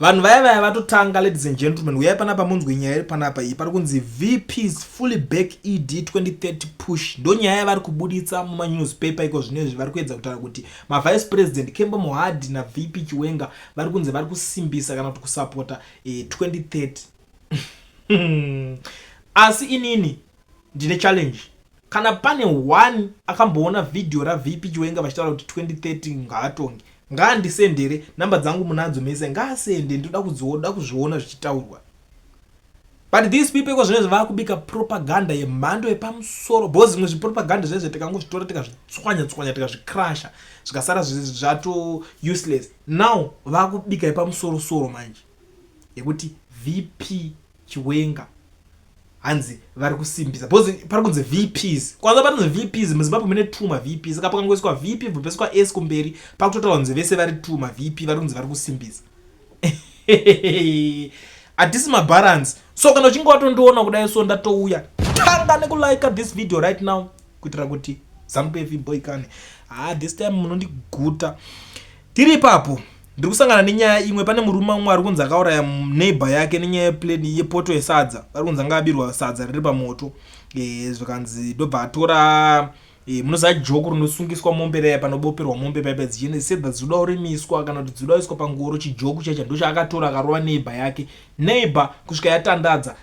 Vanhu vaya vaya vatotanga ladies and gentlemen uyai panapa munzwe nyaya iri panapa iyi pari kunzi VPs fully back ED 2030 push ndonyaya yavari kubuditsa mumanewspaper iko zvino izvi vari kuedza kutaura kuti mavice president Kembo Mohadi naVP Chiwenga vari kunzi vari kusimbisa kana kuti kusapota eh, 2030 asi inini Ndine challenge kana pane one akamboona video ra VP Chiwenga vachitaura kuti 2030 ngaatonge ngaandisendere number dzangu munadzo mese ngaasende ndoda kudzioda kuzviona zvichitaurwa but these people iko zvinezvi vakubika propaganda yemhando yepamusoro bo zvimwe zvipropaganda zvinezvi tikangozvitora tikazvitswanya tswanya tikazvikrasha zvikasara zvato useless now vakubika yepamusoro soro manje yekuti vp Chiwenga hanzi vari kusimbisa because pari kunzi vps kwanza parinzi vps muzimbabwe mune two mavp saka pakangoiswa vp vobeswa s kumberi pakutotaura kunzi vese vari two mavp vari kunzi vari kusimbisa hatisi mabalance so kana uchinge watondiona kudai so ndatouya tanga nekulike this video right now kuitira kuti zanupf boy kani ha ah, this time munondiguta tiri ipapo Ndiri kusangana nenyaya imwe pane murume umwe ari kunzi akauraya neighbor yake nenyaya yeplate yepoto yesadza ari kunzi anga abirwa sadza riri pamoto e, zvikanzi ndobva atora e, munoziva joko rinosungiswa mombe raya panoboperwa mombe paipa dzichienda sedha dzinoda kurimiswa kana kuti dzinoda kuiswa pangoro chijoko chaicha ndochaakatora akarova neighbor yake neighbor kusvika yatandadza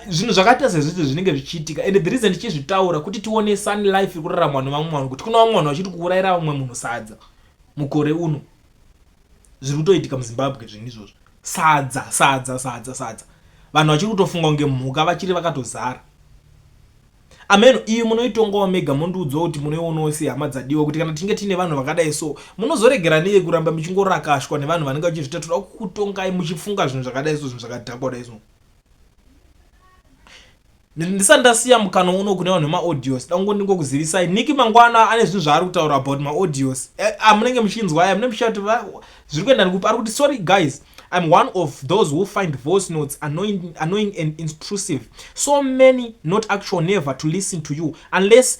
zvinhu zvakaita sezvizvi zvinenge zvichiitika and the reason ndichizvitaura kuti tione sun life iri kuraramwa nevamwe vanhu kuti kuna vamwe vanhu vachiri kuurayira vamwe munhu sadza mukore uno zviri kutoitika muzimbabwe zvinhu izvozvo sadza sadza sadza sadza vanhu vachiri kutofunga kunge mhuka vachiri vakatozara ameno iyo munoitongawo mega mondiudzawo kuti munoionawo sei hama dzadiwa kuti kana tinge tiine vanhu vakadai so munozoregera nei kuramba muchingorakashwa nevanhu vanenge vachizvitatura kutongai muchifunga zvinhu zvakadai so zvinhu zvakadhakwa dai so ndisati ndasiya mukana uno kune vanhu vemaaudios dangu ndingokuzivisai niki mangwana ane zvinhu zvaari kutaura about maaudios eh, amunenge ah, muchinzwa aya mune muchati zviri kuenda nekupi ari kuti sorry guys I'm one of those who find voice notes annoying, annoying and intrusive. So many not actual never to listen to you unless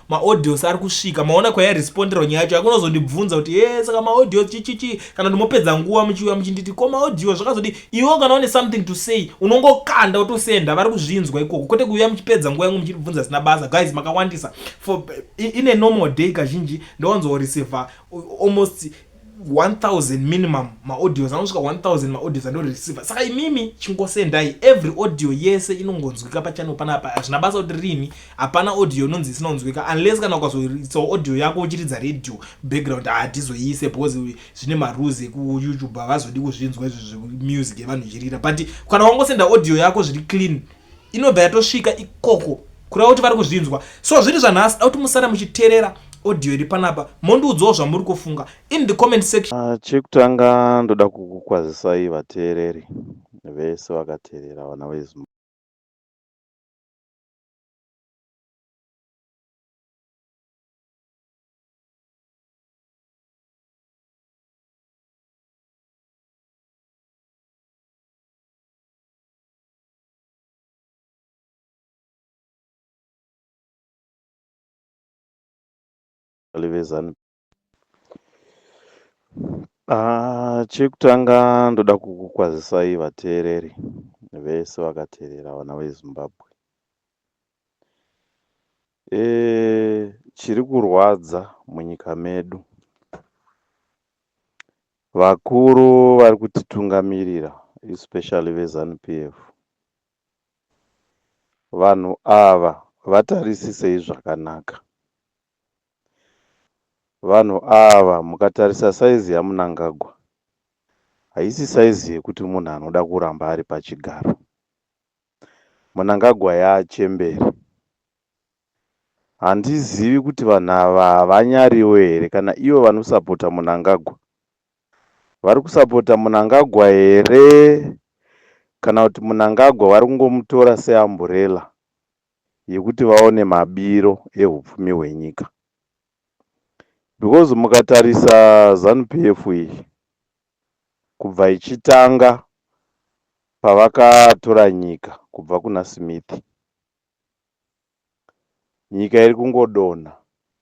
maaudios ari kusvika maona kwayairesponderwa nyaya yacho yakunozondibvunza kuti e saka maaudios chichichi kana kuti mopedza nguva muchiuya muchinditi ko maaudios zvakazodii iwo kana une something to say unongokanda wotosenda vari kuzvinzwa ikoko kwete kuuya muchipedza nguva yangu muchindibvunza zvisina basa guys makawandisa for in a normal day kazhinji ndowanzoreceiver almost 1000 minimum maaudios anosvika 1000 maaudios andoreceiva saka imimi chingosendai every audio yese inongonzwika pachannel panapa hazvina basa kuti riini hapana audio inonzi isina kunzwika unless kana ukazoitsawo audio yako uchiridza radio background hatizoiise because zvine marules ekuyoutube havazodi kuzvinzwa izvo zvemusic yevanhu ichirira but kana wangosenda audio yako zviri clean inobva yatosvika ikoko kureva kuti vari kuzvinzwa so zviri zvanhasi da kuti musara muchiterera audio iri panapa mondiudzawo zvamuri kufunga in the comment section uh, chekutanga ndoda kukukwazisai vateereri vese vakateerera vana vezim livezanu ah, chekutanga ndoda kukukwazisai vateereri vese vakateerera vana vezimbabwe e, chiri kurwadza munyika medu Vakuru vari kutitungamirira especially veZanu PF vanhu ava vatarisisei zvakanaka. Vanhu ava mukatarisa size yaMunangagwa haisi size yekuti munhu anoda kuramba ari pachigaro. Munangagwa yaachembere Handizivi kuti vanhu ava havanyariwo here kana ivo vanosapota Munangagwa vari kusapota Munangagwa here kana kuti Munangagwa vari kungomutora seamburela yekuti vaone mabiro ehupfumi hwenyika because mukatarisa Zanu PF iyi kubva ichitanga pavakatora nyika kubva kuna Smith Nyika iri kungodonha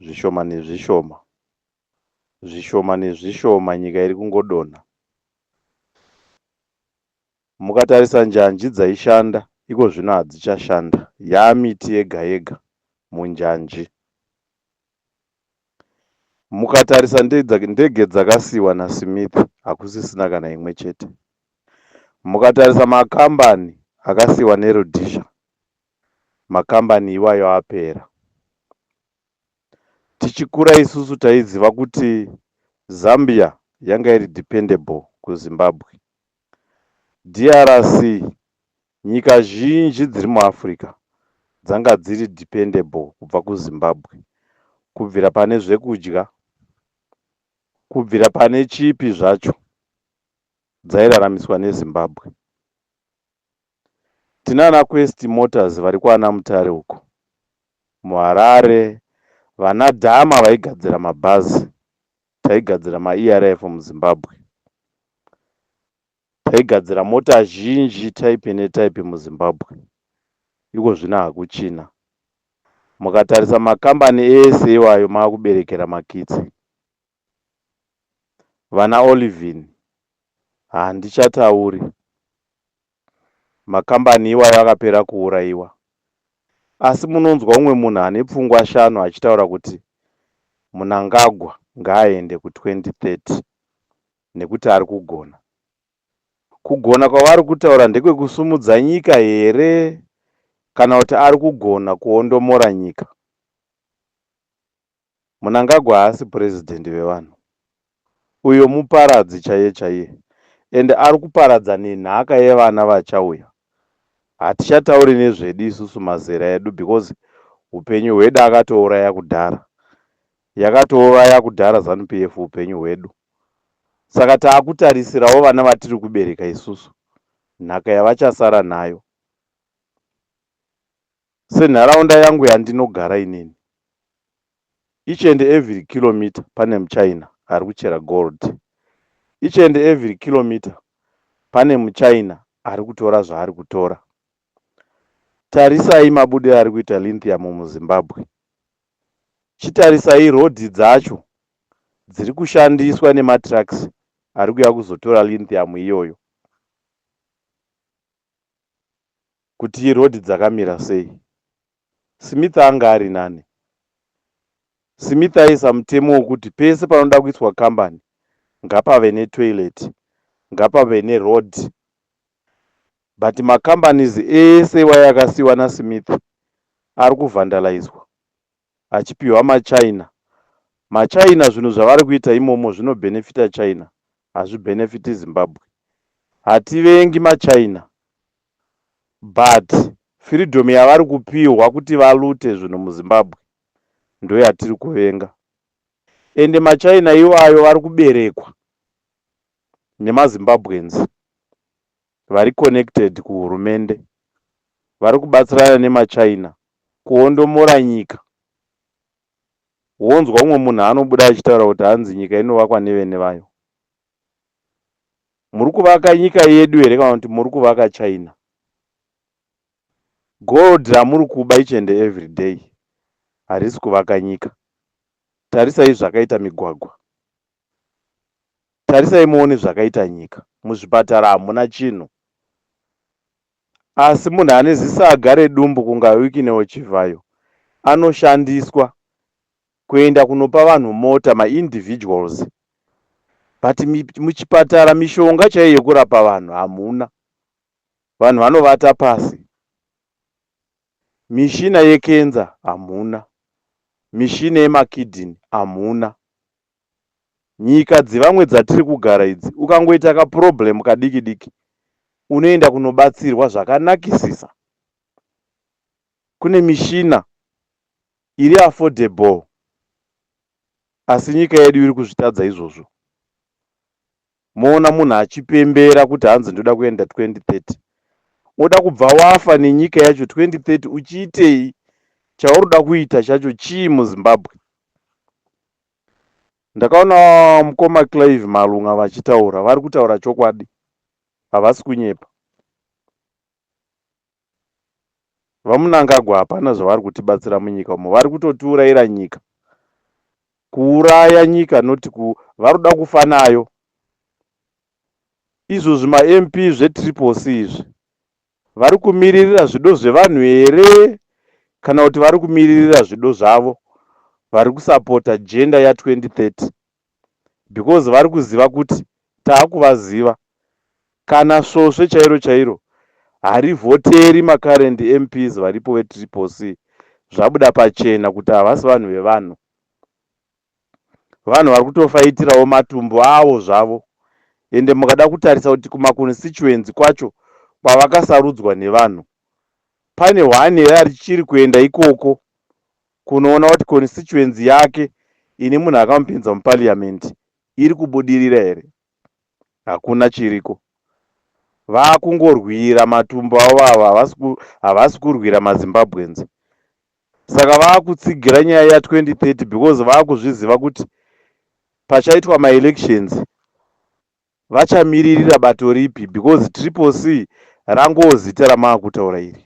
zvishoma nezvishoma. Zvishoma nezvishoma nyika iri kungodonha. Mukatarisa njanji dzaishanda iko zvino hadzichashanda. Yaa miti yega yega munjanji. Mukatarisa ndege dzakasiiwa naSmith hakusisina kana imwe chete. Mukatarisa makambani akasiiwa neRhodesia, makambani iwayo apera. Tichikura isusu taiziva kuti Zambia yanga iri dependable kuZimbabwe. DRC Nyika zhinji dziri muAfrica dzanga dziri dependable kubva kuZimbabwe kubvira pane zvekudya, kubvira pane chipi zvacho dzairaramiswa neZimbabwe. Tinana Quest Motors vari kwana Mutare uko muHarare, vana Dama vaigadzira mabhazi, taigadzira maERF muZimbabwe. Taigadzira mota zhinji type netype muZimbabwe, iko zvino hakuchina. Mukatarisa makambani ese iwayo maakuberekera makitsi. Vana Olivine handichatauri. Makambani iwayo akapera kuuraiwa. Asi munonzwa umwe munhu ane pfungwa shanu achitaura kuti Mnangagwa ngaaende ku 2030. nekuti ari kugona. Kugona kwavari kutaura ndekwekusumudza nyika here kana kuti ari kugona kuondomora nyika? Munangagwa haasi president vevanhu. Uyo muparadzi chaiye chaiye ende ari kuparadza nenhaka yevana vachauya. Hatichatauri nezvedu isusu mazera edu because hupenyu hwedu akatouraya kudhara. Yakatouraya kudhara zanu PF hupenyu hwedu saka takutarisirawo vana vatiri kubereka isusu nhaka yavachasara nayo senharaunda yangu yandinogara inini each and every kilometer pane muchina ari kuchera gold each and every kilometer pane muchina ari kutora zvaari kutora tarisai mabudiro ari kuita lithium muzimbabwe Chitarisai road dzacho dziri kushandiswa nematrucks ari kuuya kuzotora lithium iyoyo kuti iroad dzakamira sei. Smith anga ari nani? Smith aisa mutemo wekuti pese panoda kuiswa kambani ngapave netoilet, ngapave neroad but ma companies ese iwayo akasiiwa na Smith ari ku vandalaizwa achipihwa ma China. Ma China zvinhu zvavari kuita imomo zvino benefita China hazvi benefiti Zimbabwe. Hativengi ma China but freedom yavari kupihwa kuti va lute zvinhu mu Zimbabwe ndoyatiri kuvenga. Ende ma China iwayo vari kuberekwa nemaZimbabweans vari connected kuhurumende vari kubatsirana nemaChina kuondomora nyika wonzwa umwe munhu anobuda achitaura kuti hanzi nyika inovakwa nevene vayo muri kuvaka nyika yedu here kana kuti muri kuvaka china gold ramuri kuba each and every day harisi kuvaka nyika tarisai zvakaita migwagwa tarisai muone zvakaita nyika muzvipatara hamuna chinhu asi munhu ane zisaga redumbu kunga wikinewo chivhayo anoshandiswa kuenda kunopa vanhu mota maindividuals but muchipatara mishonga chaiyo yekurapa vanhu hamuna vanhu vanovata pasi mishina yekenza hamuna mishina yemakidini hamuna Nyika dzevamwe dzatiri kugara idzi ukangoita ka problem kadiki diki unoenda kunobatsirwa zvakanakisisa. Kune mishina iri affordable asi nyika yedu iri kuzvitadza izvozvo. Moona munhu achipembera kuti hanzi ndoda kuenda 2030. Woda kubva wafa nenyika yacho 2030 uchiitei? Chauroda kuita chacho chii muZimbabwe? Ndakaona mukoma Clive Malunga vachitaura, vari kutaura chokwadi. Havasi kunyepa. VaMnangagwa hapana zvavari kutibatsira munyika umo vari kutotiuraira nyika kuuraya nyika not ku vari kuda kufa nayo izvo zvima MP zve triple C izvi vari kumiririra zvido zvevanhu here kana kuti vari kumiririra zvido zvavo vari kusapota gender ya 2030 because vari kuziva kuti takuvaziva. Kana svosve chairo chairo harivhoteri macurrent MPs varipo veTriple C zvabuda pachena kuti havasi vanhu vevanhu. Vanhu vari kutofaitirawo matumbu awo zvavo ende mukada kutarisa kuti kumaconstituency kwacho kwavakasarudzwa nevanhu pane one here arichiri kuenda ikoko kunoona kuti constituency yake ine munhu akamupinza muparliament iri kubudirira here. Hakuna chiriko. Vakungorwira matumbu avo avo havasi ku, havasi kurwira maZimbabweans. Saka vakutsigira nyaya ya 2030 because vakuzviziva kuti pachaitwa maelections Vachamiririra bato ripi because triple C rangowo zita ramaakutaura iri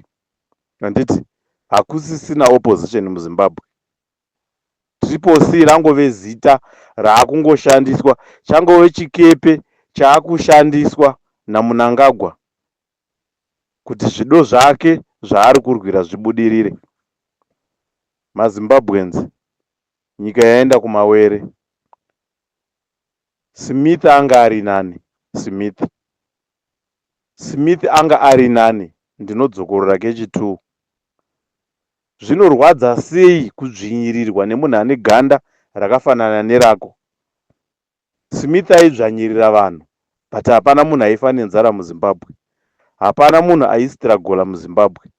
handiti hakusisina opposition muZimbabwe. Triple C rangove zita raakungoshandiswa changove chikepe chaakushandiswa naMunangagwa kuti zvido zvake zvaari kurwira zvibudirire. MaZimbabweans nyika yaenda kumawere. Smith anga ari nani? Smith Smith anga ari nani? Ndinodzokorora kechi two. Zvinorwadza sei kudzvinyirirwa nemunhu ane ganda rakafanana nerako? Smith aidzvanyirira vanhu but hapana munhu aifa nenzara muZimbabwe. Hapana munhu aisitiragola muZimbabwe.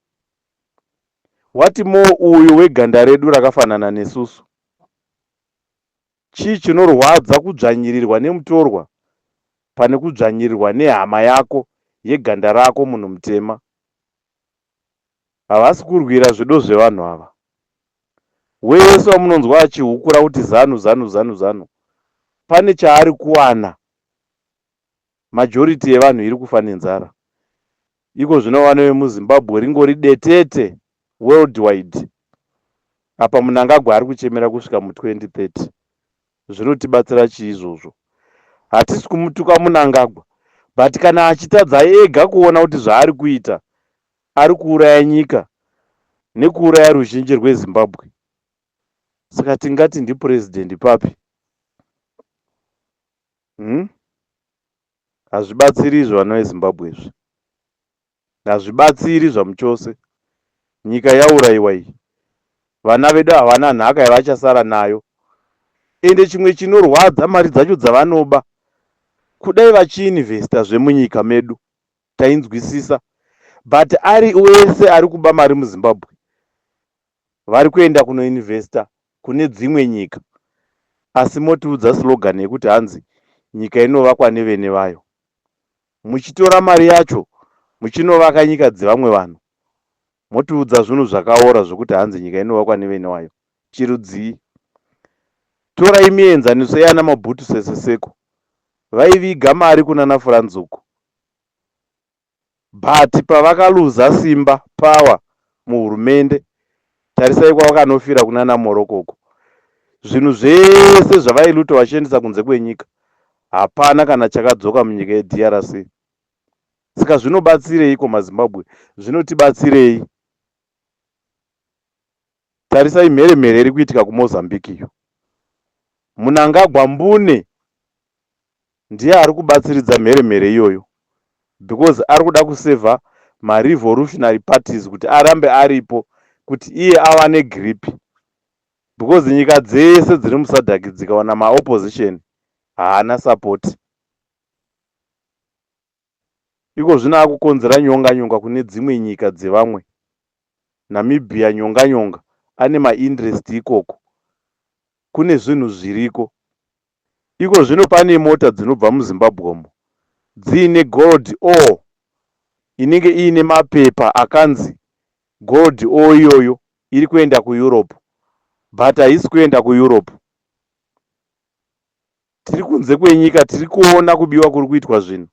What more uyo weganda redu rakafanana nesusu? Chii chinorwadza kudzvanyirirwa nemutorwa pane kudzvanyirirwa nehama yako yeganda rako munhu mutema. Havasi kurwira zvido zvevanhu ava. Wese wamunonzwa achihukura kuti zanu zanu zanu zanu pane chaari kuwana Majority yevanhu iri kufa nenzara. Iko zvino vana vemuZimbabwe ringori detete worldwide. Apa Mnangagwa ari kuchemera kusvika mu 2030. Zvinotibatsira chii izvozvo? Hatisi kumutuka Mnangagwa but kana achitadza ega kuona kuti zvaari kuita ari kuuraya nyika nekuuraya ruzhinji rweZimbabwe. Saka tingati ndiPresident papi? Umm hazvibatsiri izvi vana veZimbabwe izvi hazvibatsiri zvamuchose nyika yauraiwa iyi vana vedu havana nhaka yavachasara nayo ende chimwe chinorwadza mari dzacho dzavanoba kudai vachiinvesta zvemunyika medu tainzwisisa but ari wese ari kuba mari muZimbabwe vari kuenda kunoinvesta kune dzimwe nyika asi motiudza slogan yekuti hanzi nyika inovakwa nevene vayo muchitora mari yacho muchinovaka nyika dzevamwe vanhu motiudza zvunhu zvakaora zvekuti hanzi nyika inovakwa nevene wayo chirudzii torai mienzaniso yana mabhutu seseseko vaiviga mari kunana furanzuku but pavakaluza simba power muhurumende tarisai kwavakanofira kunana Morocco uko zvinhu zvese zvavailuta vachiendesa kunze kwenyika hapana kana chakadzoka munyika yeDRC saka zvinobatsireiko maZimbabwe zvinotibatsirei Tarisai mheremhere iri kuitika kuMozambique iyo. Munangagwa mbune ndiye ari kubatsiridza mheremhere iyoyo because ari kuda kusevha marevolutionary parties kuti arambe aripo kuti iye awane grip because nyika dzese dziri musadhaki dzikaona maopposition haana support Iko zvino akukonzera nyonganyonga kune dzimwe nyika dzevamwe Namibia nyonganyonga ane ma indrest ikoko kune zvinhu zviriko iko zvino pane mota dzinobva muzimbabwe umo dziine gold or inenge iine mapepa akanzi gold or iyoyo iri kuenda kueurope but haisi kuenda kueurope tiri kunze kwenyika tiri kuona kubiwa kuri kuitwa zvinhu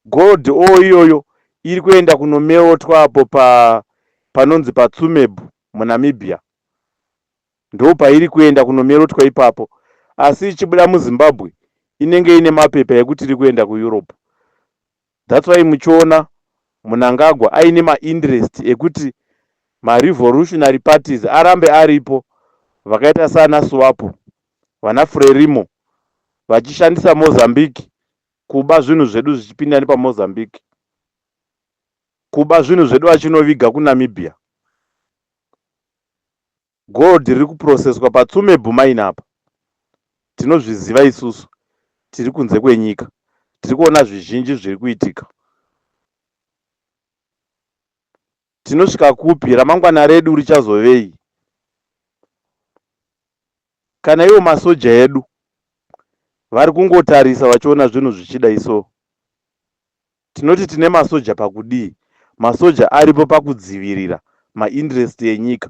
gold o iyoyo iri kuenda kunomeotwa apo pa panonzi patsumebhu munamibia ndo pairi kuenda kunomerotwa ipapo asi ichibuda muzimbabwe inenge ine mapepa ekuti iri kuenda kueurope That's why muchiona Munangagwa aine ma interest ekuti ma revolutionary parties arambe aripo vakaita sana Swapo, vana Frelimo vachishandisa Mozambique kuba zvinhu zvedu zvichipinda nepa Mozambique. Kuba zvinhu zvedu vachinoviga ku Namibia. Gold riri kuprocesswa paTsumebhu mine apa tinozviziva isusu tiri kunze kwenyika tiri kuona zvizhinji zviri kuitika. Tinosvika kupi? Ramangwana redu richazovei? Kana iwo masoja edu vari kungotarisa vachiona zvinhu zvichidai so. Tinoti tine masoja pakudii? Masoja aripo pakudzivirira mainterest enyika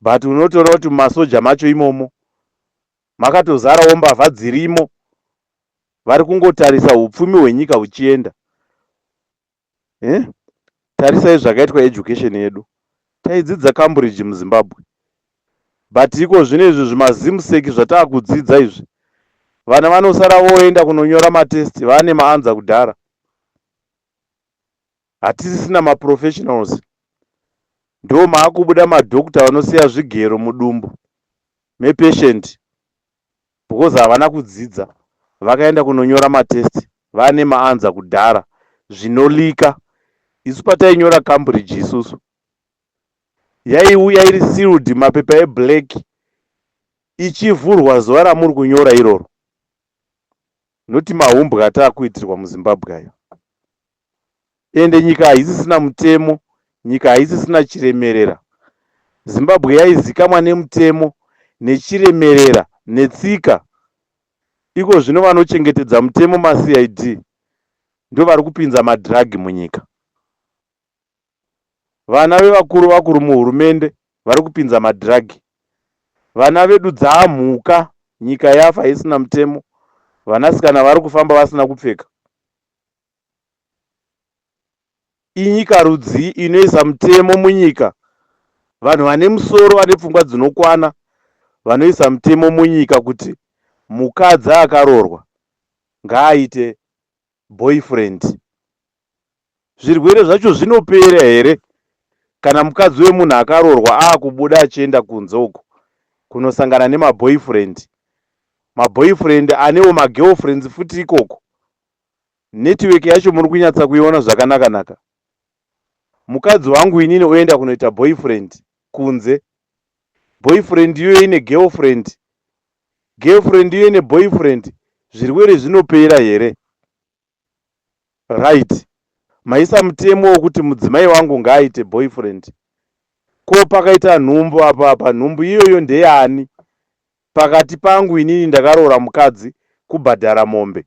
but unotoona kuti mumasoja macho imomo makatozarawo mbavha dzirimo vari kungotarisa upfumi hwenyika huchienda eh? tarisai zvakaitwa education yedu taidzidza cambridge muzimbabwe but iko zvino izvi zvimazimseki zvataakudzidza izvi vana vanosara voenda kunonyora matest vaane maanza kudhara hatisisina maprofessionals ndo maakubuda madoctor vanosiya zvigero mudumbu mepatient because havana kudzidza vakaenda kunonyora matest vane maanza kudhara zvinolika isu patainyora cambridge isusu yaiuya iri sealed mapepa eblack ichivhurwa zuva ramuri kunyora iroro noti mahumbwa ataakuitirwa muzimbabwe ayo ende nyika haisisina mutemo nyika haisisina chiremerera zimbabwe yaizikamwa nemutemo nechiremerera netsika iko zvino vanochengetedza mutemo macid ndovari kupinza madrug munyika vana vevakuru vakuru muhurumende vari kupinza madrug vana vedu dzaamhuka nyika yafa haisina mutemo vanasikana vari kufamba vasina kupfeka Inyika rudzii inoisa mutemo munyika? Vanhu vane musoro vane pfungwa dzinokwana vanoisa mutemo munyika kuti mukadzi akaroorwa ngaaite boyfriend. Zvirwere zvacho zvinopera here kana mukadzi wemunhu akaroorwa aakubuda achienda kunze uko kunosangana nemaboyfriend? Maboyfriend anewo magirlfriends futi ikoko. Network yacho muri kunyatsa kuiona zvakanaka naka. Mukadzi wangu inini oenda kunoita boyfriend kunze. Boyfriend iyoyo ine girlfriend. Girlfriend iyoyo ine boyfriend. Zvirwere zvinopera here? Right. Maisa mutemo wokuti mudzimai wangu ngaaite boyfriend. Ko pakaita nhumbu apa apa nhumbu iyoyo ndeyani? Pakati pangu inini ndakaroora mukadzi kubhadhara mombe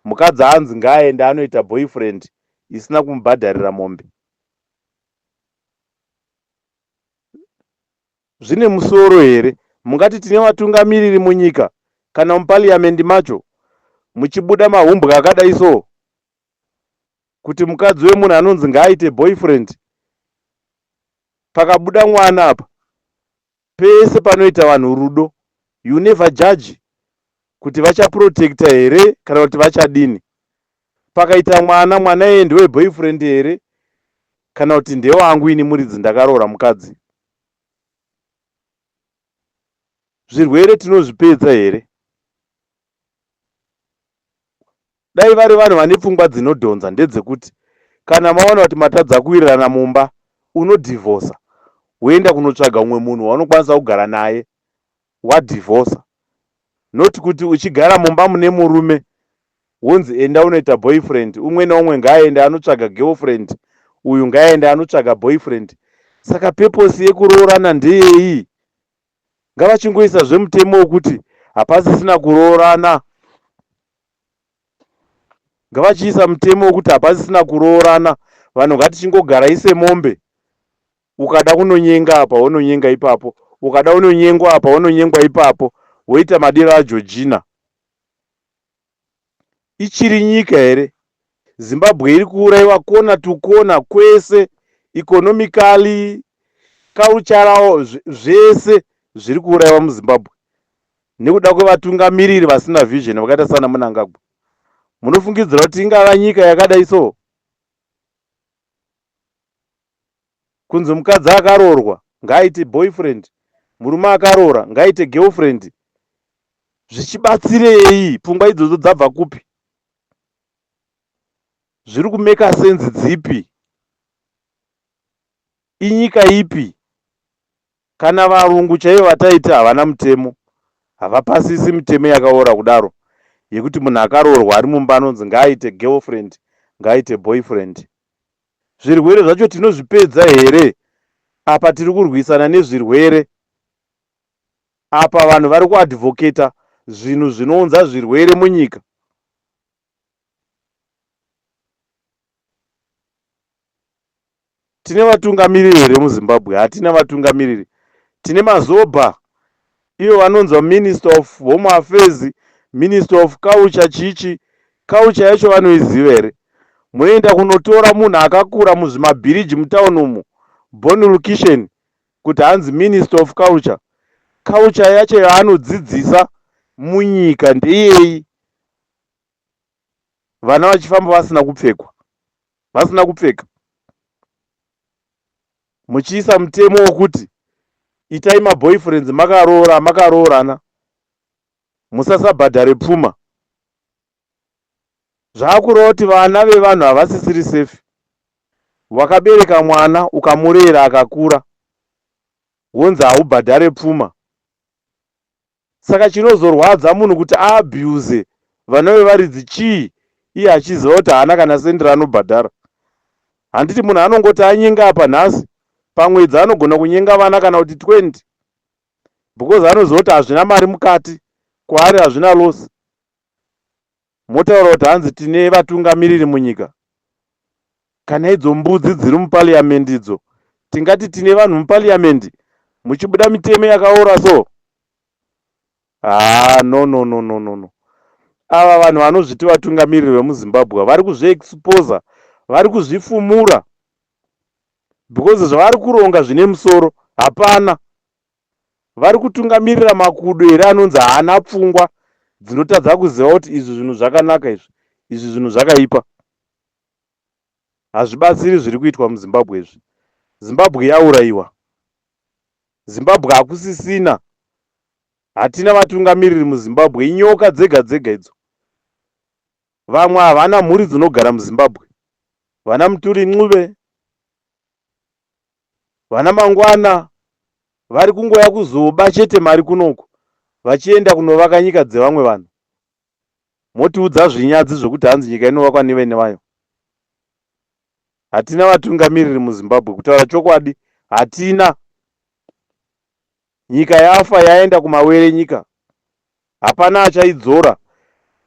mukadzi anzi ngaaende anoita boyfriend isina kumubhadharira mombe zvine musoro here mungati tine vatungamiriri munyika kana mupaliamendi macho muchibuda mahumbwa akadai so kuti mukadzi wemunhu anonzi ngaaite boyfriend pakabuda mwana apa pese panoita vanhu rudo you never judge kuti vachaprotecta here kana kuti vachadini pakaita mwana mwana yeye ndewe boyfriend here kana kuti ndewangu ini muridzi ndakaroora mukadzi zvirwere tinozvipedza here Dai vari vanhu vane pfungwa dzinodhonza ndedzekuti kana mawana kuti matadza kuwirirana mumba unodhivhosa woenda kunotsvaga umwe munhu waunokwanisa kugara naye wadhivhosa not kuti uchigara mumba mune murume wonzi enda unoita boyfriend umwe neumwe ngaaende anotsvaga girlfriend uyu ngaaende anotsvaga boyfriend saka peposi yekuroorana ndeyei ngavachingoisa zve mutemo wekuti hapasisina kuroorana ngavachiisa mutemo wekuti hapasisina kuroorana vanhu ngatichingogarai semombe ukada kunonyenga apa wononyenga ipapo ukada unonyengwa apa wononyengwa ipapo woita madiro ageorgina ichiri nyika here zimbabwe iri kuuraiwa kona to kona kwese economically cultural zvese zviri kuuraiwa muzimbabwe nekuda kwevatungamiriri vasina vision vakaita sana munangagwa munofungidzira kuti ingava nyika yakadai so Kunzi mukadzi akaroorwa ngaaite boyfriend, murume akaroora ngaaite girlfriend zvichibatsirei? Pfungwa idzodzo dzabva kupi? Zviri kumaker sense dzipi? Inyika ipi? Kana varungu chaivo vataiti havana mutemo, havapasisi mitemo yakaora kudaro yekuti munhu akaroorwa ari mumba anonzi ngaaite girlfriend, ngaaite boyfriend. Zvirwere zvacho tinozvipedza here? Apa tiri kurwisana nezvirwere. Apa vanhu vari kuadvocator zvinhu zvinounza zvirwere munyika. Tine vatungamiriri here muZimbabwe? Hatina vatungamiriri. Tine mazobha Ivo vanonzwa minister of home affairs, minister of culture chichi. Culture yacho vanoiziva here? Moenda kunotora munhu akakura muzvimabhiriji mutown umu born location kuti hanzi minister of culture. Culture yacho yaanodzidzisa munyika ndeyei? vana vachifamba vasina kupfekwa vasina kupfeka muchiisa mutemo wokuti itai maboyfriends makaroora makaroorana musasabhadhare pfuma zvaakureva kuti vana vevanhu havasisiri safe wakabereka mwana ukamurera akakura wonzi haubhadhare pfuma Saka chinozorwadza munhu kuti a abuse vana vevaridzi chii iye achiziva kuti haana kana cent raanobhadhara. Handiti munhu anongoti anyenga apa nhasi pamwedzi anogona kunyenga vana kana kuti 20 because anoziva kuti hazvina mari mukati kwaari hazvina loss. Motaura kuti hanzi tine vatungamiriri munyika? Kana idzo mbudzi dziri muparliament idzo tingati tine vanhu muparliament muchibuda mitemo yakaora so? Haa no no no no no no. Ava vanhu vanozviti vatungamiriri vemuZimbabwe vari kuzviexposer, vari kuzvifumura because zvavari kuronga zvine musoro hapana. vari kutungamirira makudo here anonzi haana pfungwa dzinotadza kuziva kuti izvi zvinhu zvakanaka izvi izvi zvinhu zvakaipa hazvibatsiri zviri kuitwa muzimbabwe izvi zimbabwe yaurayiwa zimbabwe hakusisina hatina vatungamiriri muzimbabwe inyoka dzega dzega idzo vamwe havana mhuri dzinogara muzimbabwe vana muturi ncube vana mangwana vari kungouya kuzoba chete mari kunoku vachienda kunovaka nyika dzevamwe vanhu motiudza zvinyadzi zvekuti hanzi nyika inovakwa nevene vayo hatina vatungamiriri muzimbabwe kutaura chokwadi hatina Nyika yafa yaenda kumawere nyika hapana achaidzora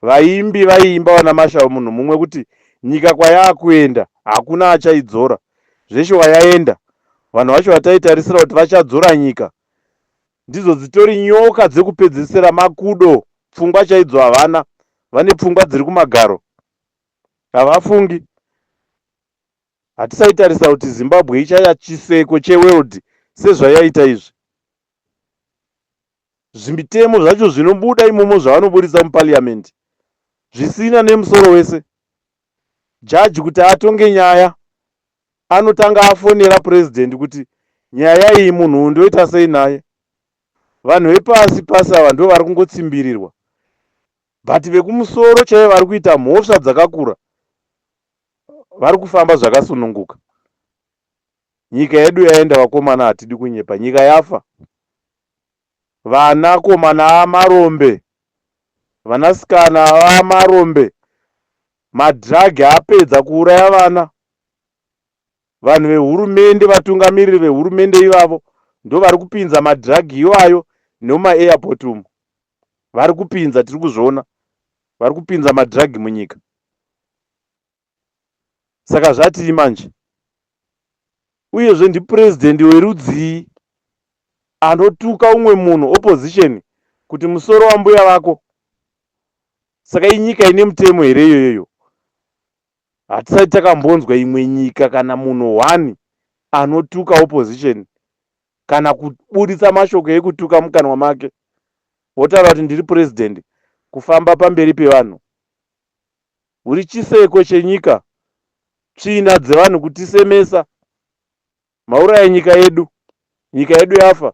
vaimbi vaiimba vana Mashau munhu mumwe kuti nyika kwayaakuenda hakuna achaidzora zveshuwa yaenda vanhu vacho vataitarisira kuti vachadzora nyika ndidzo dzitori nyoka dzekupedzesera makudo pfungwa chaidzo havana vane pfungwa dziri kumagaro havafungi Hatisaitarisa kuti Zimbabwe ichaya chiseko cheworld sezvayaita izvi. Zvimitemo zvacho zvinobuda imomo zvavanoburitsa muparliament zvisina nemusoro wese. Judge kuti atonge nyaya anotanga afonera president kuti nyaya iyi munhu uyu ndoita sei naye. Vanhu vepasi pasi ava ndivo vari kungotsimbirirwa but vekumusoro chaivo vari kuita mhosva dzakakura. vari kufamba zvakasununguka nyika yedu yaenda vakomana hatidi kunyepa nyika yafa vana komana amarombe vanasikana amarombe madhiragi apedza kuuraya vana vanhu vehurumende vatungamiriri vehurumende ivavo ndovari kupinza madhiragi iwayo nemumairport umu vari kupinza tiri kuzviona vari kupinza madrug munyika saka zvatii manje uyezve ndipresident werudzii anotuka umwe munhu opposition kuti musoro wambuya vako saka inyika ine mutemo here iyoyoyo hatisati takambonzwa imwe nyika kana munhu one anotuka opposition kana kubuditsa mashoko ekutuka mukanwa make wotaura kuti ndiri president kufamba pamberi pevanhu uri chiseko chenyika tsvina dzevanhu kutisemesa mauraya nyika yedu nyika yedu yafa